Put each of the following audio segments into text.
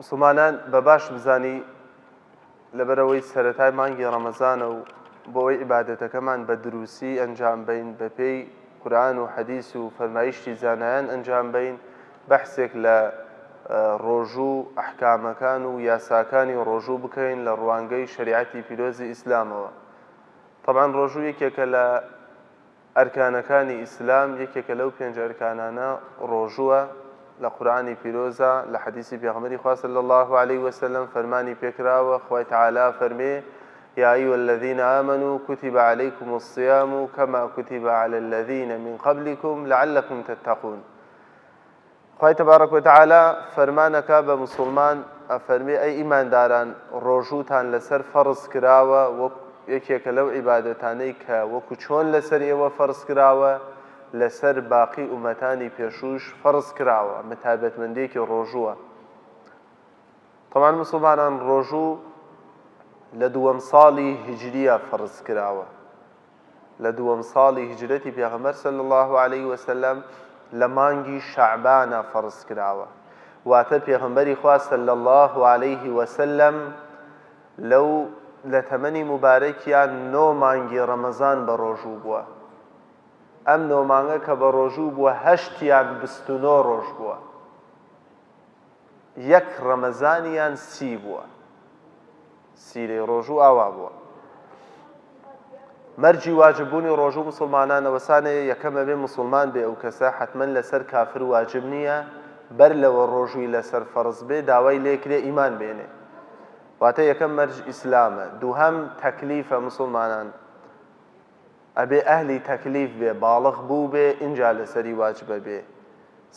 مسلمانان بە باش بزانی لەبەرەوەی سەتای مانگی ڕەمەزانە و بۆ ئەوەی عیباەتەکەمان بە دروستی ئەنجام بین بەپێی قورآن و حەدیث و فەرمایشتی زانایان ئەنجام بین بەحسێک لە ڕۆژوو ئەحکامەکان و یاساکانی ڕۆژوو بکەین لە ڕوانگەی شریعەتی پیرۆزی ئیسلامەوە طبعا ڕۆژوو یەکێکە لە ئەرکانەکانی ئیسلام یەکێکە لەو پێنج ئەرکانانە ڕۆژووە، لە قورئانی پیرۆزە لە حەدیسی پێغەمبەری خوا صلی اللە علیە وسلم فەرمانی پێکراوە خوای تعالی فەرمێ، یا ایها الذین آمنوا کتب علیکم الصیام کما کتب علی الذین من قبلکم لعلکم تتقون. خوای تبارک و تعالی فەرمانەکا بە موسڵمان ئەفەرمێ ئەی ئیمانداران ڕۆژووتان لەسەر فەڕز کراوە وەک یەکێکە لەو عیبادەتانەی کە وەکو چۆن لەسەر ئێوە فەڕز کراوە لەسەر باقی ئومەتانی پێشووش فەڕز کراوە ئەمە تایبەتمەندیەکی ڕۆژووە تەمان مسلمانان ڕۆژوو لە دووەم ساڵی هجریە فەڕز کراوە لە دووەم ساڵی هیجرەتی پێغەمبەر صلی اللە علیە وسلم لە مانگی شەعبانە فەرز کراوە واتە پێغەمبەری خوا صلی اللە علیه وسلم لەو لە تەمەنی مبارەکیان نۆ مانگی ڕەمەزان بە ڕۆژوو بووە ئەم نۆ مانگە کە بە ڕۆژوو بووە هەشتیان بستنۆ ڕۆژ بووە یەک ڕەمەزانیان سی بووە سی لەی ڕۆژوو ئاوا بووە مەرجی واجب بوونی ڕۆژوو مسلمانان ئەوەسانێ یەکەم ئەبێ مسلمان بێ ئەو کەسە حتمما لەسەر کافر واجب نییە بەر لەوە ڕۆژووی لەسەر فەرز بێ داوای لێکرێ ئیمان بێنێ واتە یەکەم مەرج ئیسلامە دووهەم تەکلیفە مسلمانان ئەبێ ئەهلی تەکلیف بێ باڵغ بووبێ ئینجا لەسەری واجبەبێ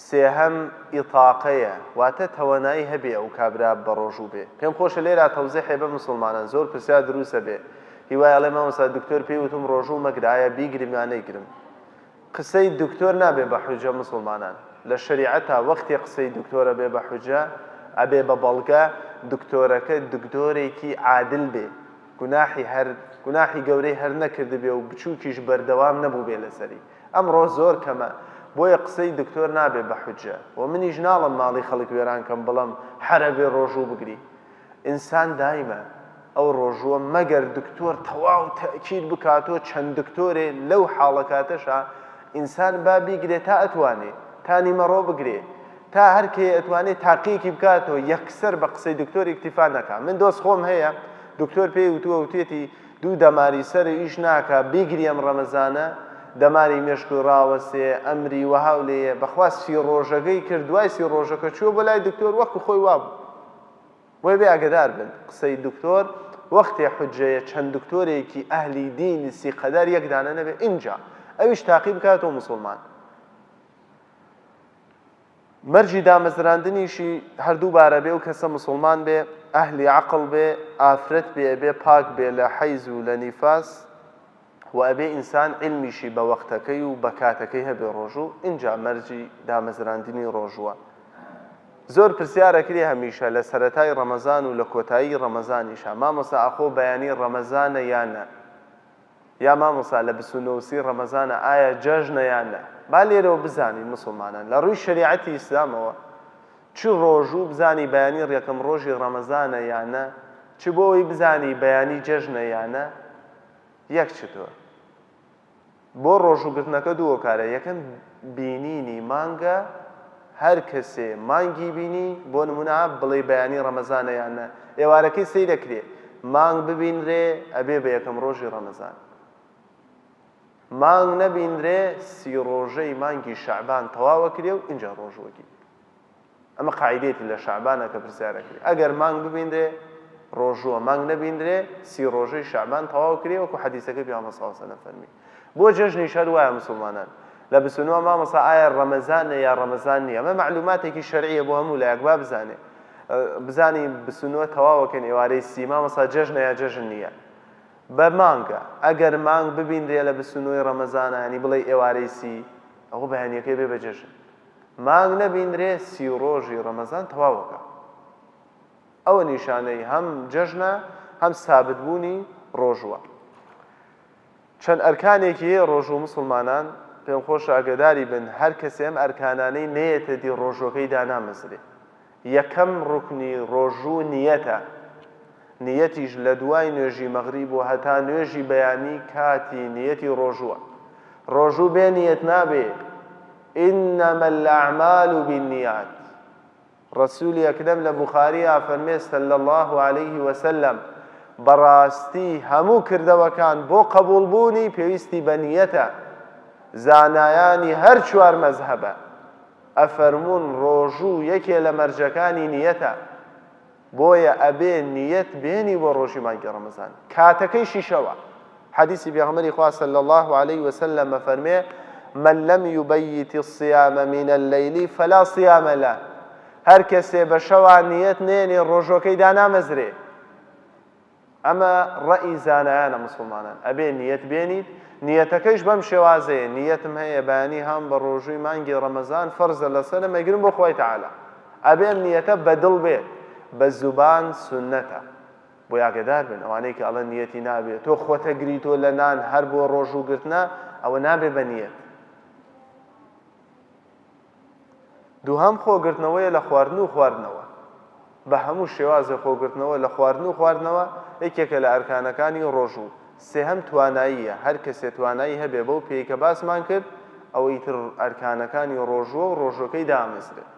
سێهەم ئیطاقەیە واتە تەوانایی هەبێ ئەو کابرا بەڕۆژوو بێ پێم خۆشە لێرا تەوزیحێ بە مسوڵمانان زۆر پرسیار دروسە بێ هیوای ئەڵێ مامۆستا دکتۆر پێی وتم ڕۆژوو مەگرە ئایا بیگرم یا نەیگرم قسەی دکتۆر نابێ بە حوجە مسوڵمانان لە شەریعەتا وەختێ قسەی دکتۆر ئەبێ بە حوجە ئەبێ بە بەڵگە دکتۆرەکە دکتۆرێکی عادل بێ گوناحی هەر گوناحی گەورەی هەر نەکردبێ و بچوکیش بەردەوام نەبوبێ لەسەری ئەمڕۆ زۆر کەمە بۆیە قسەی دکتۆر نابێ بە حوجە وە منیش ناڵم ماڵی خەڵک وێران کەم بڵم حەرەبێ ڕۆژوو بگری ئینسان دایمە ئەو ڕۆژووە مەگەر دکتۆر تەواو تەئکید بکاتۆ چەند دکتۆرێ لەو حاڵەکاتەشا ئینسان با بیگرێ تا ئەتوانێ تا نیمەڕۆ بگرێ تا هەر کێ ئەتوانێ تاقیەکی بکاتەوە یەکسەر بە قسەی دکتۆر ئیکتیفا نەکا من دۆست خۆم هەیە دکتۆر پێی وتووە وتێتی دوو دەماری سەر ئیش ناکە بیگری ئەم ڕەمەزانە دەماری مێشکو ڕاوەسێ ئەمری وەهاو لێیە بەخوا سی ڕۆژەکەی کرد دوای سی ڕۆژەکە چووە بۆ لای دکتۆر وەکو خۆی وابوو بۆیە بێ ئاگدار بن قسەی دکتۆر وەختێ حجەیە چەند دکتۆرێکی ئەهلی دینی سیقەدار یەکدانە نەبێ ئینجا ئەویش تاقی بکاتەوە مسلمان مەرجی دامەزراندنیشی هەردوو بارە بێ ئەو کەسە مسوڵمان بێ ئەهلی عەقڵ بێ ئافرەت بێ ئەبێ پاک بێ لە حەیز و لە نیفاس و ئەبێ ئینسان عیلمیشی بە وەقتەکەی و بە کاتەکەی هەبێ ڕۆژوو ئینجا مەرجی دامەزراندنی ڕۆژووە زۆر پرسیارەکری هەمیشە لە سەرەتای ڕەمەزان و لە کۆتایی ڕەمەزانیشە مامۆسا ئاخۆ بەیانی ڕەمەزانە یانە یا مامۆستا لە بیست و نۆ سی ڕەمەزانە ئایا جەژنە یان نا با لێرەوە بزانین موسڵمانان لە ڕووی شەریعەتی ئیسلامەوە چ ڕۆژوو بزانی بەیانی ڕیەکەم ڕۆژی ڕەمەزانە یا نە چ بۆ ئەوەی بزانی بەیانی جەژنە یا نە یەک چتۆر بۆ ڕۆژوو گرتنەکە دوو هۆکارە یەکەم بینینی مانگە هەر کەسێ مانگی بینی بۆ نمونە بڵێی بەیانی ڕەمەزانە یان نە ئێوارەکەی سەیر ئەکرێ مانگ ببینرێ ئەبێ بە یەکەم ڕۆژی ڕەمەزان مانگ نەبینرێ سی ڕۆژەی مانگی شەعبان تەواو ئەکرێ و ئینجا ڕۆژ وەگیر ئەمە قاعدەیەتی لە شەعبانە کە پرسیار ئەکرێ ئەگەر مانگ ببینرێ ڕۆژووە مانگ نەبینرێ سی ڕۆژەی شەعبان تەواو کرێ وەکو حەدیسەکەی پیامبەر صلی اللە علیه و سلم فەرمی بۆ جەژنیش هەر وایە موسڵمانان لە بیست و نۆ مامۆستا ئایا ڕەمەزانە یا ڕەمەزان نییە ئەمە مەعلوماتێکی شەرعیە بۆ هەموو لایەک با بزانێ بزانی بیست و نۆ تەواوەکەن ئێوارەی سی مامۆستا جەژنە یا جەژن نییە بە مانگە ئەگەر مانگ ببینرێ لە بیست و نۆی ڕەمەزانە ینی بڵێ ئێوارەی سی ئەوە بەیانیەکەی بێ بە جەژن مانگ نەبینرێ سی و ڕۆژی ڕەمەزان تەواوەکە ئەوە نیشانەی هەم جەژنە هەم سابتبوونی ڕۆژوە چەند ئەرکانێکی هەیە ڕۆژوو موسڵمانان پێم خۆشە ئاگەداری بن هەر کەسێ ئەم ئەرکانانەی نەیەتە دی ڕۆژووەکەی دانامەزرێ یەکەم ڕوکنی ڕۆژوو نیەتە نیەتیش لە دوای نوێژی مەغریب و هەتا نوێژی بەیانی کاتی نیەتی ڕۆژووە ڕۆژوو بێ نیەت نابێ انما الاعمال بالنیات ڕەسوولی ئەکرەم لە بوخاری ئافەرمێ صلی اللە علیه وسلم، بەڕاستی هەموو کردەوەکان بۆ قەبووڵ بوونی پێویستی بە نیەتە، زانایانی هەر چوار مەزهەبە ئەفەرموون ڕۆژوو یەکێ لە مەرجەکانی نیەتە، بۆیە ئەبێ نیەت بێنی بۆ ڕۆژی مانگی ڕەمەزان کاتەکەیشی شەوە. حەدیسی پێغەمبەری خوا صلی اللە علیە وسلم ئەفەرمێ، من لم یبیت الصیام من اللیل فلا صیام لە، هەر کەسێ بە شەوا نیەت نێنێ ڕۆژۆکەی دانامەزرێ، ئەمە ڕەئی زانایانە موسڵمانان، ئەبێ نیەت بێنیت، نیەتەکەیش بەم شێوازەیە، نیەتم هەیە بەیانی هەم بە ڕۆژووی مانگی ڕەمەزان فەرزە لەسەرم ئەگرم بۆ خوای تەعالا، ئەبێ ئەم نیەتە بە دڵ بێت، بە زوبان سوننەتە. بۆی ئاگەدار بن ئەوانەی کە ئەڵێن نیەتی نابێ تۆ خۆت ئەگری تۆ لە نان هەر بۆ ڕۆژوو گرتنە ئەوە نابێ بە نیەت دووهەم خۆگرتنەوەیە لە خواردن و خواردنەوە بە هەموو شێوازە خۆگرتنەوە لە خواردن و خواردنەوە یەکێکە لە ئەرکانەکانی ڕۆژوو سێهەم تواناییە هەر کەسێ توانایی هەبێ بەو پێی کە باسمان کرد ئەوەی تر ئەرکانەکانی ڕۆژووە و ڕۆژەکەی دامەزرێت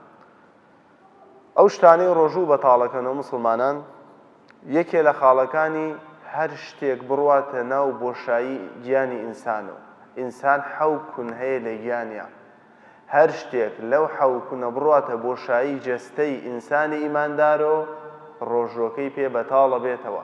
ئەو شتانەی ڕۆژوو بەتاڵەکەنەوە موسڵمانان یەکێ لە خاڵەکانی هەر شتێک بڕواتە ناو بۆشایی گیانی ئینسان و ئینسان حەو کون هەیە لە گیانیا هەر شتێک لەو حەو کونە بڕواتە بۆشایی جەستەی ئینسانی ئیماندارۆ ڕۆژووەکەی پێ بەتاڵە بێتەوە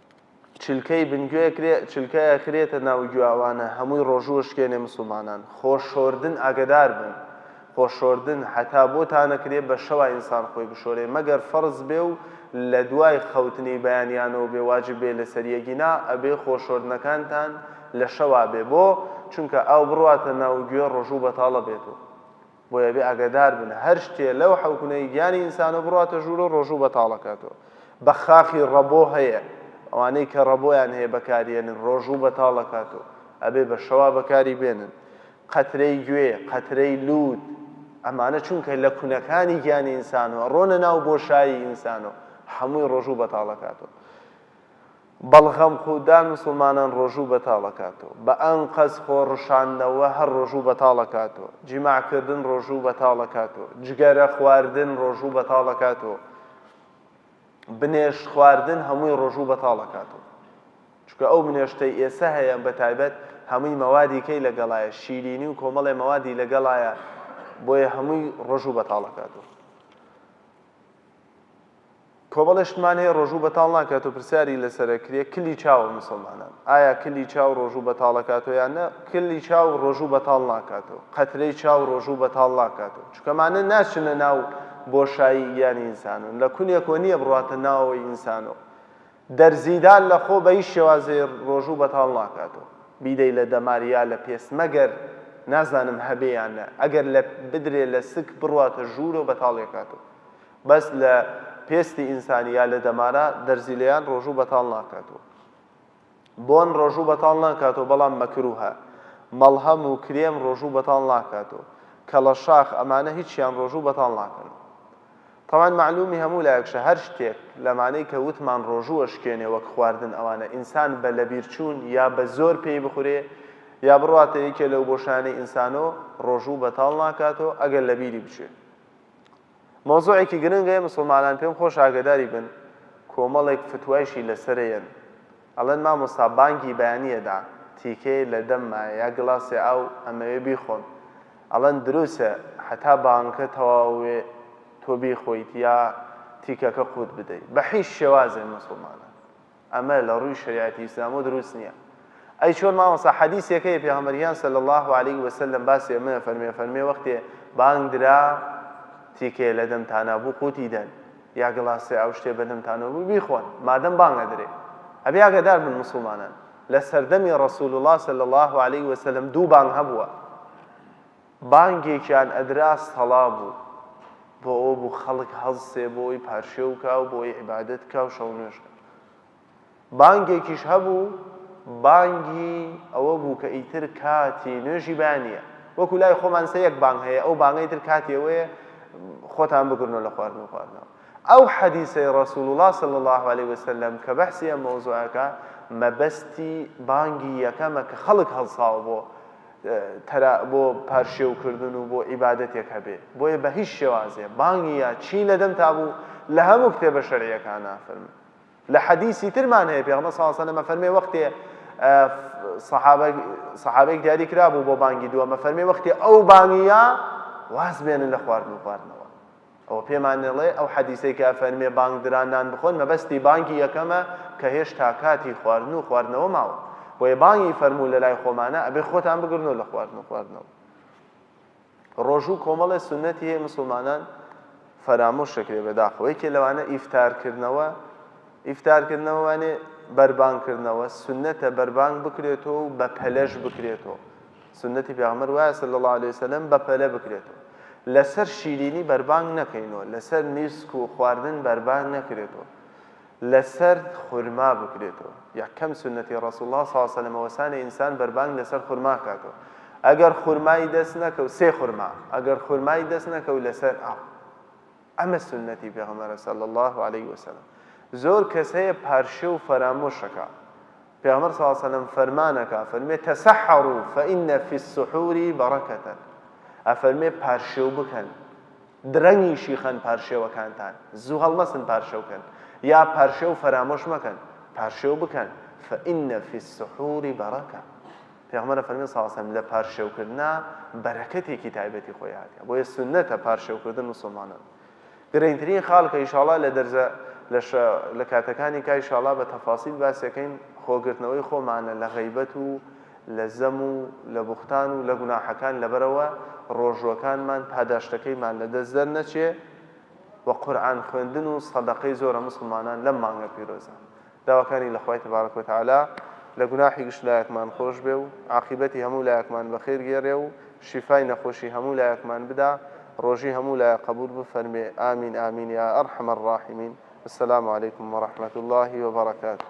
چلکەی بن گوێ کرێ چلکە ئەخرێتە ناو گوێاوانە هەمووی ڕۆژوو ئەشکێنێ مسوڵمانان خۆ شۆردن ئاگەدار بن خۆ شۆردن هەتا بۆ تانەکرێ بە شەوا ئینسان خۆی بشۆرێ مەگەر فەرز بێ و لە دوای خەوتنی بەیانیانەوە بێ واجب بێ لە سەری ئەگینا ئەبێ خۆ شۆردنەکانتان لە شەوا بێ بۆ چونکە ئاو بڕواتە ناو گوێ ڕۆژوو بەتاڵە بێت و بۆیە ئەبێ ئاگەدار بن هەر شتێ لەو حەوکنەی گیانی ئینسانەوە بڕواتە ژوورەوە ڕۆژوو بەتاڵ ئەکاتەوە بە خاخی ڕەبۆ هەیە ئەوانەی کە ڕەبۆیان هەیە بەکاریێنن ڕۆژوو بەتاڵ ئەکاتەوە ئەبێ بە شەوا بەکاری بێنن قەترەی گوێ قەترەی لووت ئەمانە چونکە لە کونەکانی گیانی ئینسانەوە ڕۆنە ناو بۆشایی ئینسانەوە هەمووی ڕۆژوو بەتاڵەکاتەوە بەڵغەم خودان مسوڵمانان ڕۆژوو بەتاڵ ئەکاتەوە بە ئەنقەست خۆ ڕشاندنەوە هەر ڕۆژوو بەتاڵ ئەکاتەوە جیماع کردن ڕۆژوو بەتاڵ ئەکاتەوە جگەرە خواردن ڕۆژوو بەتاڵ ئەکاتەوە بنێشت خواردن هەمووی ڕۆژوو بەتاڵ ئەکاتەوە چونکە ئەو منێشتەی ئێسە هەیە بە تایبەت هەمووی مەوادی کەی لەگەڵایە شیرینی و کۆمەڵێ مەوادی لەگەڵایە بۆیە هەمووی ڕۆژوو بەتاڵەکاتەوە کۆمەڵێ شتمان هەیە ڕۆژوو بەتاڵ ناکاتۆ پرسیاری لەسەرە کرێ کلی چاوە موسڵمانان ئایا کلی چاو ڕۆژوو بەتاڵەکاتۆ یان نە کلی چاو ڕۆژوو بەتاڵ ناکاتۆ قەترەی چاو ڕۆژوو بەتاڵ ناکاتۆ چکەمانە ناچنە ناو بۆشایی گیانی ئینسانۆ لە کونێکۆ نییە بڕاتە ناوەوەی ئینسانۆ دەرزیدان لە خۆ بەهیچ شێوازێ ڕۆژوو بەتاڵ ناکاتۆ بیدەی لە دەمار یا لە پێست مەگەر نازانم هەبێ یان نە ئەگەر لە بدرێ لە سک بڕاتە ژوورۆ بەتاڵیەکاتۆ. بەس لە پێستی ئینسانی یا لە دەمارا دەرزی لێیان ڕۆژوو بەتاڵ ناکاتەوە بۆن ڕۆژوو بەتاڵ ناکاتەوە بەڵام مەکروهە مەڵهەم و کرێم ڕۆژوو بەتاڵ ناکاتەوە کەڵە شاخ ئەمانە هیچیان ڕۆژوو بەتاڵ ناکەن تەوان معلومی هەموو لایەکشە هەر شتێک لەمانەی کە وتمان ڕۆژووە شکێنێ وەک خواردن ئەوانە ئینسان بە لەبیرچوون یا بە زۆر پێی بخورێ یا بڕاتە یەکێ لەو بۆشانەی ئینسانۆ ڕۆژوو بەتاڵ ناکاتەوە ئەگەر لەبیری بچێت مەوزوعێکی گرنگە ئێ مسوڵمانان پێم خۆشە ئاگەداری بن کۆمەڵێک فتوایشی لەسەرە یەن ئەڵێن مامۆستا بانگی بەیانی ئەدا تیکەیە لە دەم مایە یا گڵاسێ ئاو ئەمەوێ بیخۆم ئەڵێن دروسە هەتا بانگەکە تەواو وێ تۆ بیخۆیت یا تیکەکە قوت بدەی بە حیش شێوازێ مسوڵمانان ئەمە لە ڕووی شەریعەتی ئیسلامەوە دروست نیە ئەی چۆن مامۆستا حەدیسێک هەیە پێغەمبەر گیان صلی اللە علیە وسلم باسی ئەمە فەرمێ فەرمێ وەختێ بانگ درا تیکێ لە دەمتانا بوو قوتی دەن یا گڵاسێ ئەو شتێ بە دەمتانەوە بوو بیخۆن مادەم بانگە درێ ئەبێ ئاگادار بن مسلمانان لە سەردەمی ڕسول الله صلی الله علیه وسلم دوو بانگ هەبووە بانگێکیان ئەدرا سەڵا بوو، بۆ ئەوە بوو خەڵک هەڵسێ بۆ ئەوەی پارشێو بکا و بۆ ئەوەی عیبادەت بکا و شەونوێژ بکا. بانگێکیش هەبوو، بانگی ئەوە بوو کە ئیتر کاتی نوێژی بانییە. وەکو لای خۆمان سە یەک بانگ هەیە، ئەو بانگە ئیتر کاتی ئەوەیە خۆتان بگرنەوە لە خواردن و خواردنەوە. ئەو حەدیسەی ڕەسووڵڵا صلی اللە علیە وسلم کە بەحسی ئەم مەوزوعە ئەکا، مەبەستی بانگی یەکەمە کە خەڵک هەڵساوە بۆ تەرا بۆ پارشێو کردن و بۆ عیبادەتێک هەبێ بۆیە بە هیچ شێوازێ بانگی یا چی لە دەم تابوو لە هەموو کتێبە شەرعیەکانا فەرموو لە حەدیسی ترمان هەیە پێغمە ساسەلەمە فەرمێ وەختێ سەحابێک دیاری کرابوو بۆ بانگی دووەمە فەرمێ وەختی ئەو بانگیە واز بێنن لە خواردن و خواردنەوە ئەوە پێمان ئەڵێ ئەو حەدیسەی کە ئەفەرمێ بانگ درا نان بخۆن مەبەستی بانگی یەکەمە کە هێشتا کاتی خواردن و خواردنەوە ماوە بۆیە بانگی فەرموو لە لای خۆمانە ئەبێ خۆتان بگرنەوە لە خواردن و خواردنەوە ڕۆژوو کۆمەڵێ سنەتی هەیە مسلمانان فەرامۆش شکرێ بەداخەوە یەکێ لەوانە ئیفتارکردنەوە ئیفتارکردنەوەوانێ بەربانکردنەوە سنەتە بەربانگ بکرێتەوە و بە پەلەش بکرێتەوە سوننەتی پێغەمبەر وایە صلی اللە علیە وسلم بە پەلە بکرێت و لەسەر شیرینی بەربانگ نەکەین و لەسەر نیسک و خواردن بەربانگ نەکرێت و لەسەر خورما بکرێت و یەکەم سوننەتی ڕسول الله صلی اللە علیە وسلم وەسانە ئینسان بەربانگ لەسەر خورما کاتەوە ئەگەر خورمای دەست نەکەو سێ خورما ئەگەر خورمای دەست نەکەو لەسەر ئاو ئەمە سنەتی پێغمەرە سەل الله عليه وسلم زۆر کەس هەیە پارشێ و فەرامۆشەکە پێغەمبەر صلی اللە علیە وسلم فەرمان ئەکا ئەفەرمێ تسحروا فان فی السحور برکة ئەفەرمێ پارشێو بکەن درەنگیشی خەن پارشێوەکانتان زوو هەڵمەسن پارشێو کەن یا پارشێو فەرامۆش مەکەن پارشێو بکەن فان فی السحور برکة پێغەمبەر فەرمی صلی اللە علیه وسلم لە پارشێوکردنا بەرەکەتێکی تایبەتی خۆی هاتیە بۆیە سنەتە پارشێوکردن مسلمانان گرنگترین خاڵ کە ئیشاڵا لە دەرزە لە شە لە کاتەکانی کا ئیشاڵا بە تەفاسیل باسیەکەین خۆ گرتنەوەی خۆمانە لە غەیبەت و لە زەم و لە بوختان و لە گوناحەکان لەبەرەوە ڕۆژوەکانمان پاداشتەکەیمان لە دەست دەر نەچێ وە قورئان خوێندن و سەدەقەی زۆرە موسڵمانان لەم مانگە پیرۆزە داواکانی لە خوای تبارک و تعالی لە گوناحی گشت لایەکمان خۆش بێ و عاقیبەتی هەموو لایەکمان بەخێر گێرێ و شیفای نەخۆشی هەموو لایەکمان بدا ڕۆژی هەموو لایەک قەبوول بفەرموێ آمین آمین یا ارحم الراحمین السلام علیکم و رحمت اللە و برکاته.